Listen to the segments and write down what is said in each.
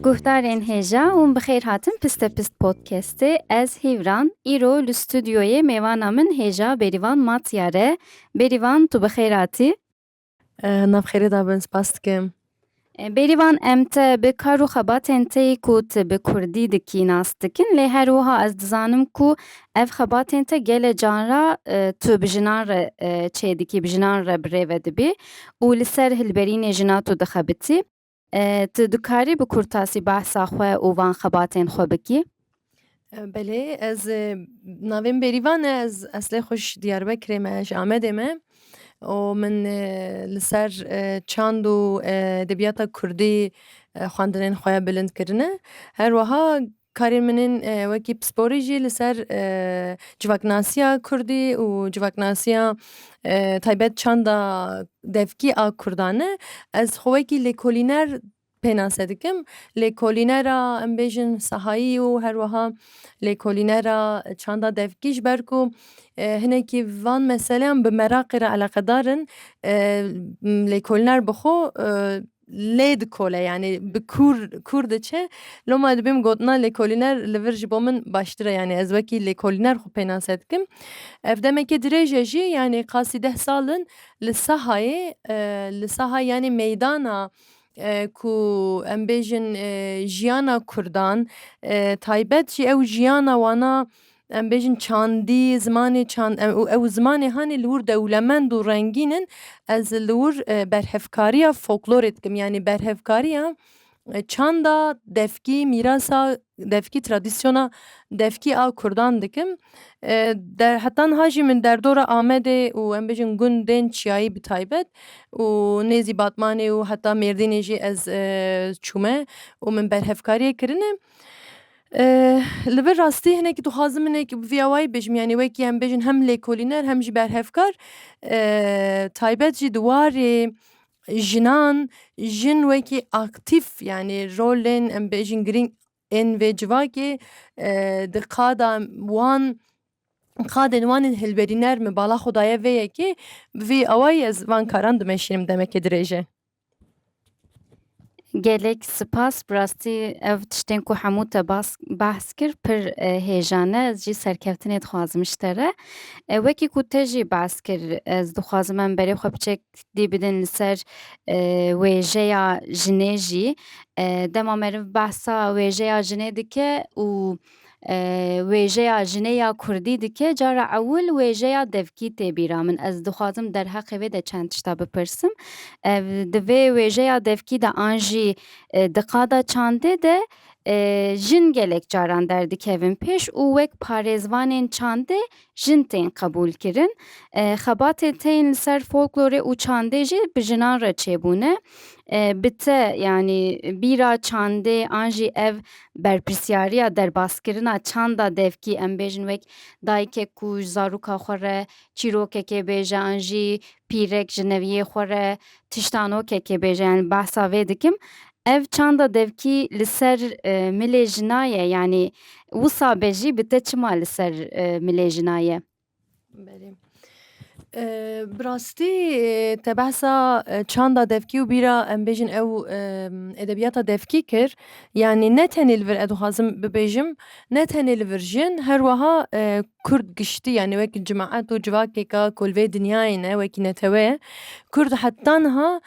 Guhdarên hêja ûn bi xêr hatin Piste Pist Podcastê. Ez Hîvran. Îro li studyoyê mêvana min hêja Bêrîvan Matiyar e. Bêrîvan tu bi xêr hatî. Navxêrê dabin spas dikim. Bêrîvan em te bi kar û xebatên te yê ku tu bi kurdî dikî nas dikin lê her wiha ez dizanim ku ev xebatên te gele canra tu bi jinan re çêdikî bi jinan re birêve dibî û li ser hilberînê jina tu dixebitî. Tu dikarî bi kurtasî behsa xwe û van xebatên xwe bikî? Belê ez navê min Bêrîvan e ez eslê xwe ji Diyarbekirê me ji Amedê me û min li ser çand û edebiyata kurdî xwendinên xwe bilind kirine her wiha Karên min ên wekî pisporî jî li ser civaknasiya kurdî û civaknasiya taybet çanda devkî a kurdan e. Ez xwe wekî lêkolîner pênase dikim. Lêkolînera em bêjin sahayî û her wiha lêkolînera çanda devkî ji ber ku hinekî van meseleyan bi meraqê re eleqedar in. Lêkolîner bi xwe lê dikole yanî bi kûr kûr diçe loma divê min gotina lêkolîner li vir ji bo min baştir e yanî ez wekî lêkolîner xwe pênase dikim ev demeke dirêj e jî yanî qasî deh sal in li sahayê li saha yanî meydana ku em bêjin jiyana kurdan taybet jî ew jiyana wana Em bêjin çandî, zimanê çand em û ew zimanê hanê li wir dewlemend û rengîn in. Ez li wir berhevkariya foklorê dikim yanî berhevkariya çanda devkî, mîrasa devkî, tradisyona devkî a Kurdan dikim. Der heta niha jî min derdora Amedê û em bêjin gundên çiyayî bi taybet û nêzî Batmanê û heta Mêrdînê jî ez çûme û min berhevkariyê kirine. Li vir rastî hinekî dixwazim hinekî bi vîya wayî bêjim yanî wekî em bêjin hem lêkolîner hem jî berhevkar taybet jî di warê jinan jin wekî aktîf yanî rolên em bêjin girîng ên vê civakê di qada wan qadên wan ên hilberîner min bala xwe daye vê yekê bi vî awayî ez van karan dimeşînim demeke dirêj e. Gelek spas bi rastî ev tiştên ku hemû te behs kir pir e, hêjan e. Ez jî serkeftinê dixwazim ji te re. E, Wekî ku te jî behs kir ez dixwazim em berê xwe bi çekdî bidin li ser e, wêjeya jinê jî. E, Dema meriv behsa wêjeya jinê dike û wêjeya jinê ya kurdî dike cara ewil wêjeya devkî tê bîra min. Ez dixwazim derheqê vê de çend tişta bipirsim. Di vê wêjeya devkî de an jî di qada çandê de jin gelek caran derdikevin pêş û wek parêzvanên çandê jin tên qebûlkirin. Xebatên te yên li ser folklorê û çandê jî bi jinan re çêbûne. Bi te yanî bîra çandê an jî ev berpirsiyariya derbaskirina çanda devkî em bêjin wek dayikek ku ji zarûka xwe re çîrokekê bêje an jî pîrek ji neviyê xwe re Tiştan o kekê bêje yani behsa vê dikim. Ev çanda devkî li ser milê jina ye yanî wisa be jî bi te çima li ser milê jina ye? Belê. Bi rastî te behsa çanda devkî û bîra em bêjin ew edebiyata devkî kir. Yanî ne tenê li vir ez dixwazim bibêjim ne tenê li vir jin her wiha Kurd giştî yanî wekî cemaet û civakêka ku li vê dinyayê ne wekî netewe, kurd heta niha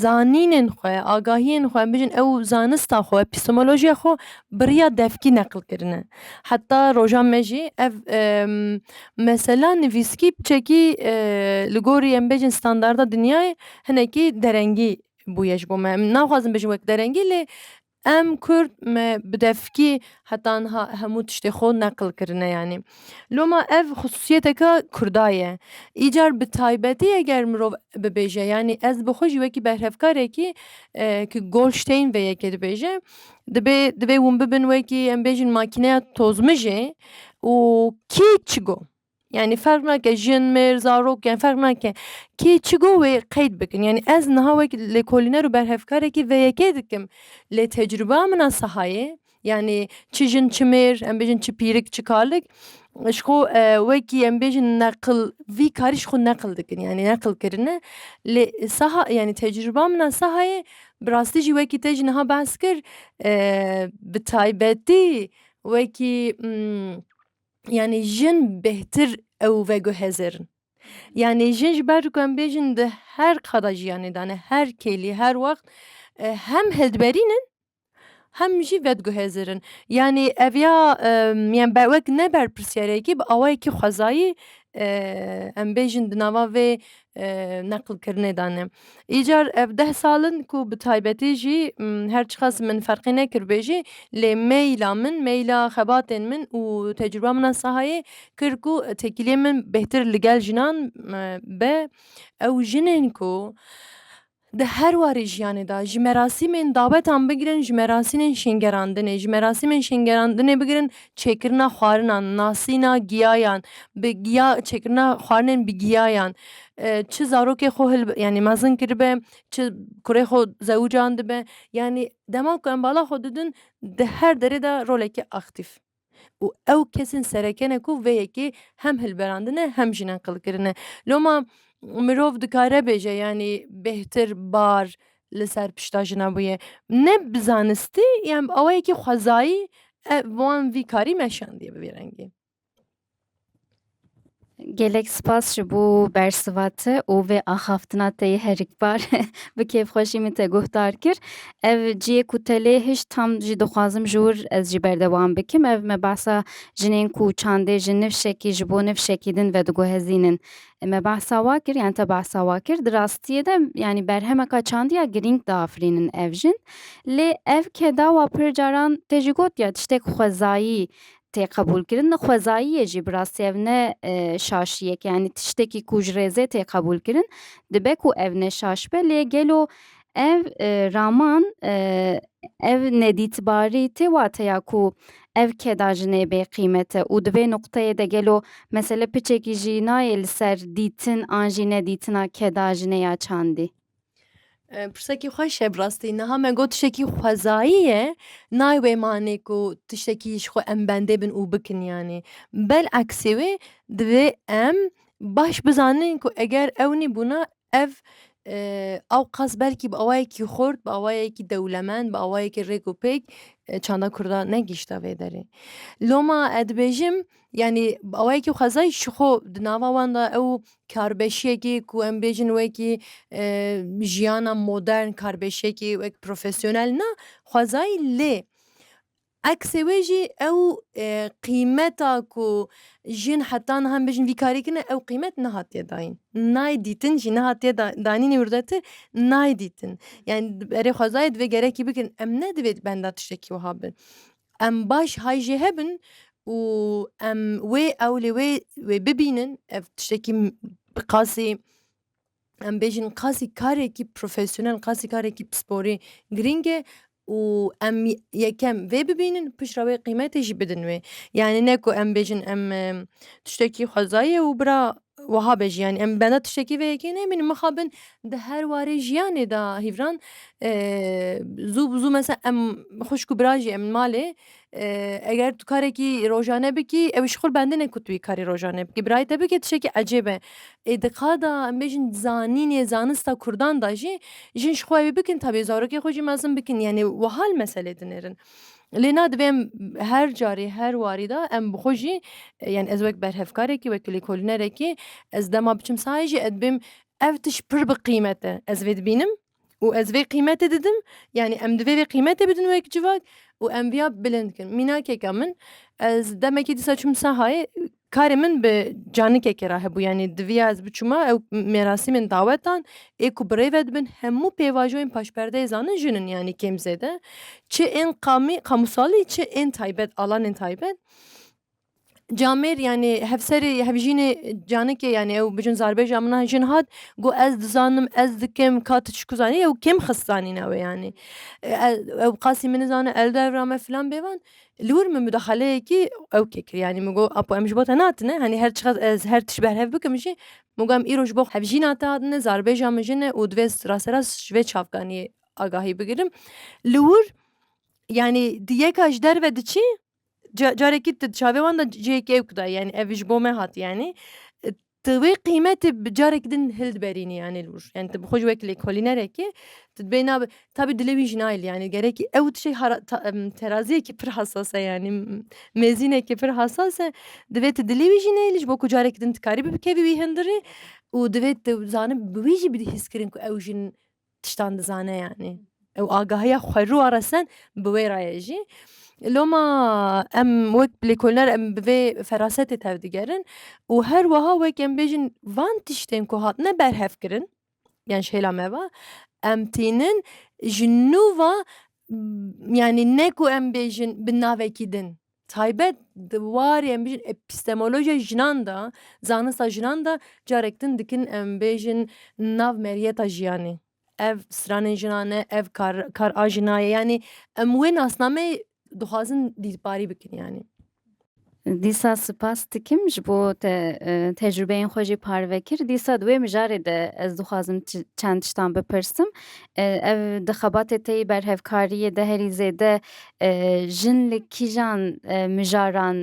zanînên xwe, agahiyên xwe em bijîn ew zanista xwe, epistemolojiya xwe bi riya devkî neqil kirine. Heta roja me jî ev mesela nivîskî bi çekî li gorî em bêjin standarda dinyayê hinekî derengî bûye ji bo me. Em naxwazin bijîm wek derengî lê Em kurd me bi devkî heta niha hemû tiştê xwe neqil kirine yanî loma ev xisûsiyeteke kurda ye. Îcar bi taybetî eger mirov bibêje yanî ez bi xwe jî wekî berhevkarekî ki Golşteyn vê yekê dibêje dibê divê hûn bibin wekî em bêjin makîneya tozmijê û kî çi got. Yani ferq nake jin, mêr, zarok yani ferq nake. Kê çi go wê qeyd bikin. Yani ez niha wek lêkolîner û berhevkarekî vê yekê dikim. Lê tecrûba min a sahayê yani çi jin çi mêr em bêjin çi pîrik çi kalik ji xwe wekî em bêjin neqil vî karî ji xwe neqil dikin yani neqil kirine. Lê saha yani tecrûba min a sahayê bi rastî jî wekî te jî niha behs kir bi taybetî wekî yanî jin bêhtir ew veguhezir in. Yanî jin ji ber ku em bêjin di her qada jiyanê de ne her kêlî her wext hem hildiberîn in hem jî vediguhezir in. Yanî ev ya wek ne berpirsiyarek e bi awayekî xwezayî em bêjin di nava vê neqilkirinê de ne. Îcar ev deh sal in ku bi taybetî jî her çiqas min ferqî nekiribê jî lê meyla min meyla xebatên min û tecrûba min a sahayê kir ku têkiliyên min bêhtir li gel jinan be. Ew jinên ku Di her warê jiyanê de ji merasîmên dawetan bigirin ji merasînên şêngerandinê, ji merasîmên şêngerandinê bigirin çêkirina xwarinan, nasîna giyayan, bi giya çêkirina xwarinên bi giyayan, çi zarokê xwe hil yanî mezin kiribe, çi kurê xwe zewicand dibe, yanî dema ku em bala xwe didin di her derê de rolekî aktîf. û ew kesên sereke ne ku vê yekê hem hilberandine hem jî neqil kirine. Loma mirov dikare bêje yanî bêhtir bar li ser pişta jina bûye. Ne bi zanistî yan bi awayekî xwezayî wan vî karî meşandiye bi vî rengî. Gelek spas ji bo bersiva te û vê axaftina te yê herikbar bi kêfxweşî min te guhdar kir. Ev ciyê ku te lê hişt tam jî dixwazim ji wir ez jî berdewam bikim. Ev me behsa jinên ku çandê ji nifşekî ji bo nifşekî din vedigihezînin. Me behsa wa kir yan te behsa wa kir. Di rastiyê de yanî berhemeka çandî ya girîng diafirînin ev jin. Lê ev ke dawa pir caran te jî gotiye tiştek xwezayî tê qebûlkirin di xwezayiyê jî bi rastî ev ne şaşiyek yanî tiştekî ku ji rêzê tê qebûlkirin dibe ku ev ne şaş be lê gelo ev raman ev nedîtbarî tê wateya ku ev keda jinê bê qîmet e û di vê nuqteyê de gelo mesele piçekî jî nayê li ser dîtin an jî nedîtina keda jinê ya çandî. Pirsekî xweş e bi rastî niha me got tiştekî xwezayî ye nayê wê manê ku tiştekî ji xwe em bendê bin û bikin yanî belaksê wê divê em baş bizanin ku eger ew nebûna ev ew qas belkî bi awayekî xurt bi awayekî dewlemend bi awayekî rêk û pêk çanda kurda negihîşta vê derê loma ez dibêjim Yanî bi awayekî xwezayî ji xwe di nava wan de ew karbeşiyekî ku em bêjin wekî jiyana modern karbeşiyekî wek profesyonel na xwezayî lê eksê wê jî ew qîmeta ku jin heta niha em bêjin vî karî kir ne ew qîmet nehatiye dayîn. Nayê dîtin jî nehatiye danîn wî rûdewê tir nayê dîtin. Yanî berê xwezayê divê gerekî bikin em ne divê di benda tiştekî wiha bin. Em baş hay jê hebin û em wê ew lê wê wê bibînin ev tiştekî bi qasî em bêjin qasî karekî profesyonel qasî karekî pisporî girîng e û em yekem vê bibînin piştre wê qîmetê jî bidin wê. Yanî ne ku em bêjin em tiştekî xwezayê û bira Wiha be jî yanî em benda tiştekî vê yekê nemînin mixabin di her warê jiyanê de hîvran zû bi zû mesela em xwişk û bira jî em li malê eger tu karekî rojane bikî ew ji xwe li bendê neke ku tu wî karê rojane bikî birayê te bike tiştekî ecêb e. Ê di ka de em bêjin di zanînê zanista kurdan de jî jin ji xwe ew ê bikin tabî zarokê xwe jî mezin bikin yanî wiha li meselê dinêrin. Lê na divê em her carê her warî de em bi xwe jî yan ez wek berhevkarekî wek lêkolînerekî ez dema biçim sahayê jî ez dibêm ev tişt pir bi qîmet e ez vê dibînim û ez vê qîmetê didim yanî em divê vê qîmetê bidin wek civak û em viya bilind bikin mînakeke min ez demekî dîsa çûm sahayê Karê min bi canikekê re hebû yanî diviya ez biçûma ew mêrasîmên dawetan ê ku birêve dibin hemû pêvajoyên paşperdeyê zanin jin in yanî kêm zêde çi ên qamî qamûsalî çi ên taybet alanên taybet camêr yanî hevserê hevjînê canikê yanî ew bijin zarbêja min a jin hat got ez dizanim ez dikim ka tu çiku zanî ew kêm xist zanîna wê yanî ew qasî min nizane eldevra me filan bêvan Li wir min mudaxaleyekî ewkê kir yanî min got Apo em ji bo te natine hanî her çiqas ez her tişt berhev bikim jî min got em îro ji bo hevjîna te hatine zarbêja min jin e û divê ez rasterast ji vê çavkaniyê agahî bigirim. Li wir yanî di yeka ji derve diçî carekî tu di çavê wan de cihêkê ewk dayî yanî ev ji bo me hatiye yanî Tu wê qîmetê bi carek din hildiberînî yanî li wir. Yani tu bi xwe ji wek lêkolînerekê tu dibê nabe tabî dilê wî jî nayê lê yanî gerekî ew tiştê hara teraziyekî pir hesas e yanî mêzînekî pir hesas e. Divê tu dilê wî jî neyê lê ji bo ku careke din tu karî bibikevî wî hundirê û divê tu zanibî bi wî jî bidî hîskirin ku ew jin tiştan dizane yanî ew agahiya xweru a resen bi wê rayê jî loma em wek lêkoliner em bi vê ferasetê tevdigerin û her weha wek em bêjin van tiştên ku hatine berhevkirin yan ji hêla me ve em tînin ji nû ve yanî ne ku em bêjin bi navekî din Taybet di warê em bêjin epistemolojiya jinan de, zanista jinan de carek din dikin em bêjin nav meriyeta jiyanê. Ev stranên jinan e, ev kar kar a jina ye yanî em wê nasnameyê dixwazin dîrparî bikin yanî. Dîsa sipas dikim ji bo te tecrûbeyên xwe jî parve kir. Dîsa di wê mijarê de ez dixwazim çend tiştan bipirsim. Ev di xebatê te yî berhevkariyê de herî zêde Jin li kîjan mijaran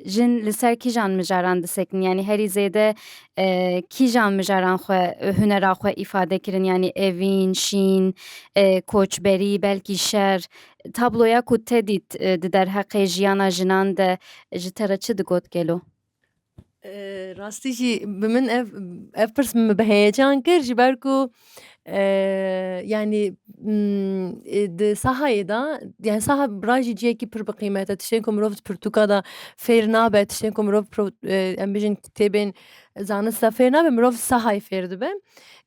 Jin li ser kîjan mijaran disekinî? Yanî herî zêde kîjan mijaran xwe hunera xwe îfade kirin? Yanî evîn, şîn, koçberî, belkî şer. Tabloya ku te dît di derheqê jiyana jinan de ji te re çi digot gelo? rastî jî bi min ev ev pirs min bi heyecan kir ji ber ku yanî di sahayê de yanî saha bira jî cihekî pir bi qîmet e tiştên ku mirov di pirtûka de fêr nabe tiştên ku mirov em bijîn kitêbên zanist de fêr nabe mirov sahayê fêr dibe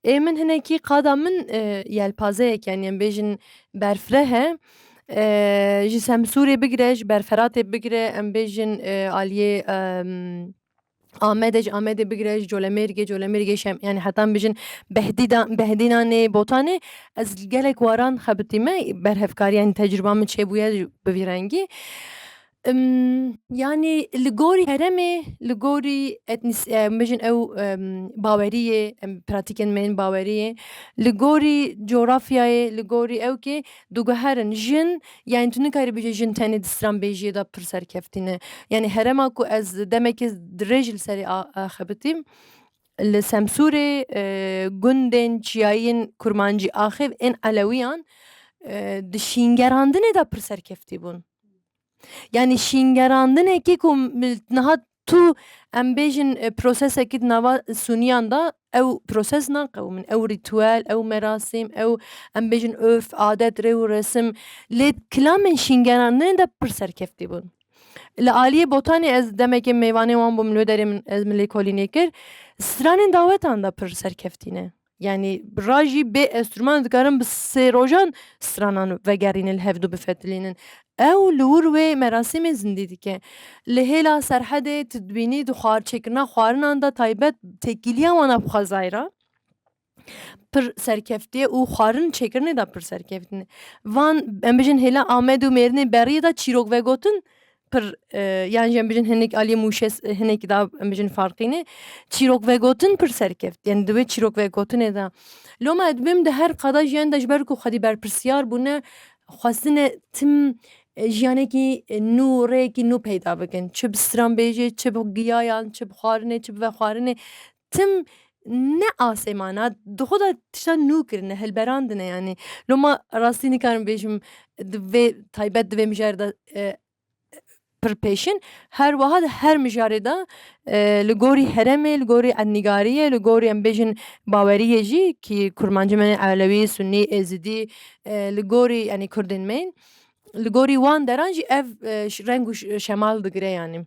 ê min hinekî qada min yelpazeyek yanî em bêjin berfireh e. Ji Semsûrê bigire ji ber Feratê bigire em bêjin aliyê Amedê ji Amedê bigire ji Colemêrgê Colemêrgê ji yanî heta em bêjin Behdîda Behdînanê Botanê ez gelek waran xebitîme berhevkariya tecrûba min çêbûye bi vî rengî. Yanî li gorî herêmê li gorî etnisî ew baweriyê pratîkên me yên baweriyê li gorî cografyayê li gorî ew kê diguherin jin yanî tu nikarî bijî jin tenê di stranbêjiyê de pir serkeftî ne yanî herêma ku ez demekê dirêj li serê axebitîm li semsûrê gundên çiyayîn kurmancî axêv ên elewiyan di şîngerandinê de pir serkeftî bûn. Yanî şîngerandinekî ku niha tu em bêjin prosesekî di nava suniyan de ew proses naqewimin ew rîtwal ew merasîm ew em bêjin urf adet rê û resim lê kilamên şîngerandinê de pir serkeftî bûn. Li aliyê botanê ez demekê mêvanê wan bûm li wê derê min ez min lêkolînê kir stranên dawetan de pir serkeftî ne. Yanî ra jî bê estrûman dikarin bi sê rojan stranan vegerînin li hev du bifetilînin. Ew li wir wê merasîmê zindî dike. Li hêla Serhedê tu dibînî di xwar çêkirina xwarinan de taybet têkîliya wan a bi xwezayê re pir serkeftî ye û xwarin çêkirinê de pir serkeftî ne. Van em bijîn hêla Amed û Mêrdinê beriyê de çîrok vegotin pir yan jî em bijin hinek aliyê mûşê hinekî da em bijin farqîne çîrok vegotin pir serkeft yani di wê çîrok vegotinê de loma ez dibim di her qada jiyana de ji ber ku xwedî berpirsyar bûne xwestine tim jiyanekî nû rêyekî nû peyda bikin çi bi stranbêjê çi bi giyayan çi bi xwarinê çi bi vexwarinê Tim ne asêmana di xwe de tiştan nû kirine, hilberandine yanî. Lo ma rastî nikarim bêjim di vê taybet di vê mijarê de pirpêşin. Her wiha di her mijarê de li gorî heremê, li gorî ednîgariyê, li gorî em bêjin baweriyê jî kî kurmancên me ne elewî, sunî, êzidî li gorî yanî kurdên me yên. Li gorî wan deran jî ev reng û şemal digire yanî.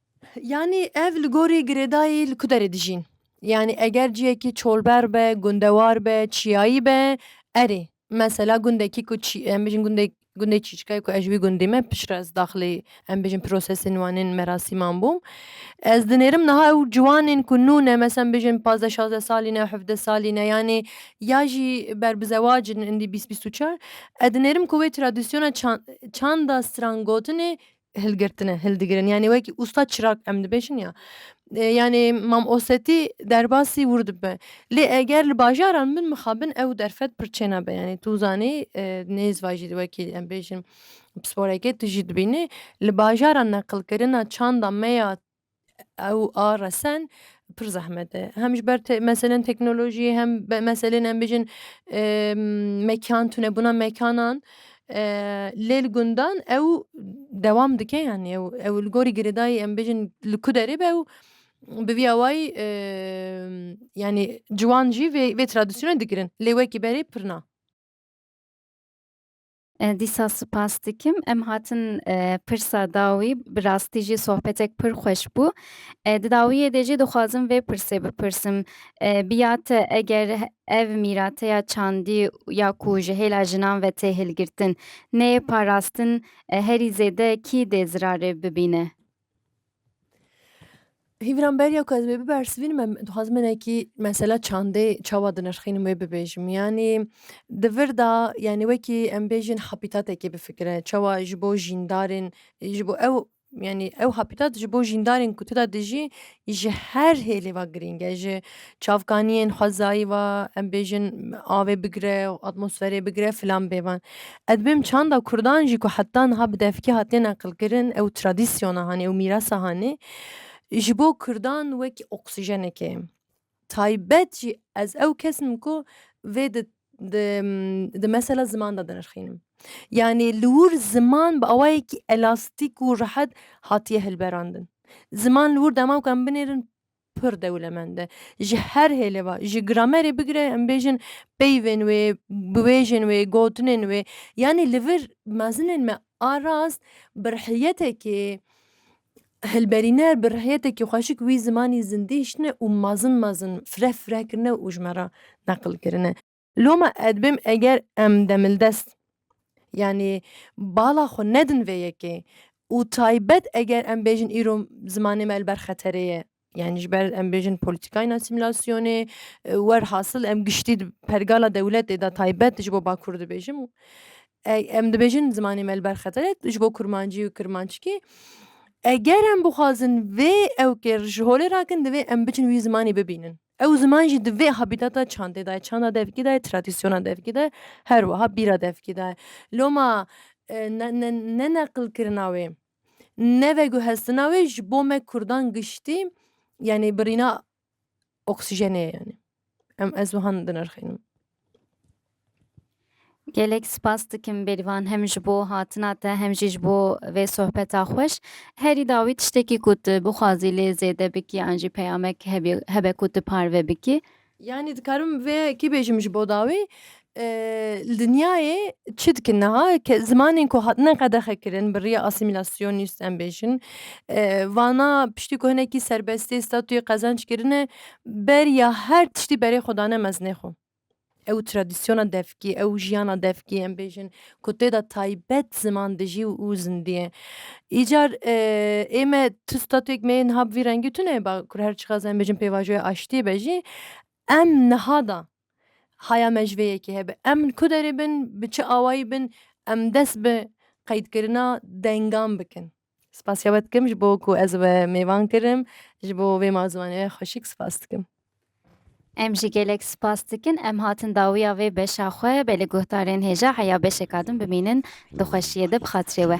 Yanî ev li gorî girêdayî li ku derê dijîn? Yanî eger ciyekî çolber be, gundewar be, çiyayî be, erê. Mesela gundekî ku çî em bijîn gundê gundê çîçikayê ku ez ji wî gundê me piştre ez daxilê em bijîn prosesên wan ên merasîman bûm. Ez dinêrim niha ew ciwanên ku nû ne mesela em bijîn pazdeh şazdeh salî ne hevdeh salî ne yanî ya jî ber bi zewac in indî bîst bîst û çar ez dinêrim ku wê tradisyona çan çanda strangotinê hilgirtine hildigirin yanî wekî usta çirak em dibêjin ya yanî mam osetî derbasî wir dibe lê eger li bajaran min mixabin ew derfet pir çênabe yanî tu zanî nêzîva jî wekî em bêjin pisporekê tu jî dibînî li bajaran neqilkirina çanda me ya ew a resen pir zehmet e. Hem ji ber meselên teknolojiyê hem meselên em bijin mekan tunebûna mekanan lê li gundan ew dewam dike yanî ew ew li gorî girêdayî em bijin li ku derê be ew bi vî awayî yanî ciwan jî vê vê tradisyona dikirin lê wekî berê pir na. Dîsa spas dikim. Em hatin pirsa dawî bi rastî jî sohbetek pir xweş bû. Di dawiyê de jî dixwazim vê pirsê bipirsim. Bi ya te eger ev mîrate ya çandî ya ku ji hêla jinan ve tê hilgirtin neyê parastin herî zêde kî dê zirarê bibîne? Hîvran beriya ku ez wê bibersivînim em dixwazim hinekî mesela çandê çawa dinirxînim wê bibêjim. Yanî di vir de yanî wekî em bêjin hapîtatekê bifikire çawa ji bo jîndarên ji bo ew yanî ew hapîtat ji bo jîndarên ku tida dijî ji her hêlê ve girîng e ji çavkaniyên xwezayî ve em bêjin avê bigire û atmosferê bigire filan bêvan. Ez dibêjim çanda kurdan jî ku heta niha bi devkî hatiye neqilkirin ew tradisyona hanê ew mîrasa hanê ji bo kurdan wek oksijenekê ye. Taybet jî ez ew kes im ku vê di di di mesela ziman de dinirxînim. Yanî li wir ziman bi awayekî elastîk û rehet hatiye hilberandin. Ziman li wir dema ku em binêrin pir dewlemend e. Ji her hêlê ve, ji gramerê bigire em bêjin peyvên wê, biwêjên wê, gotinên wê. Yanî li vir mezinên me a rast bi rihiyetekê Hilberîner bi rihyetekî xweşik wî zimanî zindî hiştine û mezin mezin fire fire kirine û ji me re neqil kirine. Loma ez dibêm eger em demildest yanî bala xwe nedin vê yekê û taybet eger em bêjin îro zimanê me li ber xeterê ye Yani ji ber em bêjin polîtîkayên asîmîlasyonê wer hasil em giştî pergala dewletê de taybet ji bo Bakur dibêjim em dibêjin zimanê me li ber xetere ji bo kurmancî û kirmanckî eger em bixwazin vê ewkê ji holê rakin divê em biçin wî zimanê bibînin. Ew ziman jî divê habîtata çandê de çanda devkî de tradîsyona devkî de her wiha bîra devkî de loma neneqilkirina wê. ne veguhestina wê ji bo me Kurdan giştî yanî birîna oksijenê ye yanî. Em ez wihan dinirxînim. Gelek spas dikim Bêrîvan hem ji bo hatina te hem jî ji bo vê sohbeta xweş. Herî dawî tiştekî ku tu bixwazî lê zêde bikî an jî peyamek hebî- hebe ku tu parve bikî. Yanî dikarim vê yekê bêjim ji bo dawî li dinyayê çi dikin niha ke zimanên ku hatine qedexekirin bi rêya asîmîlasyonî jî em bêjin vana piştî ku hinekî serbestî statuyê qezenc kirine beriya her tiştî berê xwe dane mezinê xwe ew tradisyona devkî ew jiyana devkî em bêjin ku tê de taybet ziman dijî û zindiyê. Îcar ê me tu statuyek me yê niha bi vî rengî tu neyê bakur her çiqas em bêjin pêvajoya aştiyê be jî em niha de haya me ji vê yekê hebe. Em li ku derê bin bi çi awayî bin em dest bi qeydkirina dengan bikin. Spasiya we dikim ji bo ku ez we mêvan kirim. Ji bo vê malzimanê ve xweşik spas dikim. Em jî gelek spas dikin. Em hatin dawiya vê beşa xwe be li guhdarên hêja heya beşeka din bimînin di xweşiyê de bi xatirê we.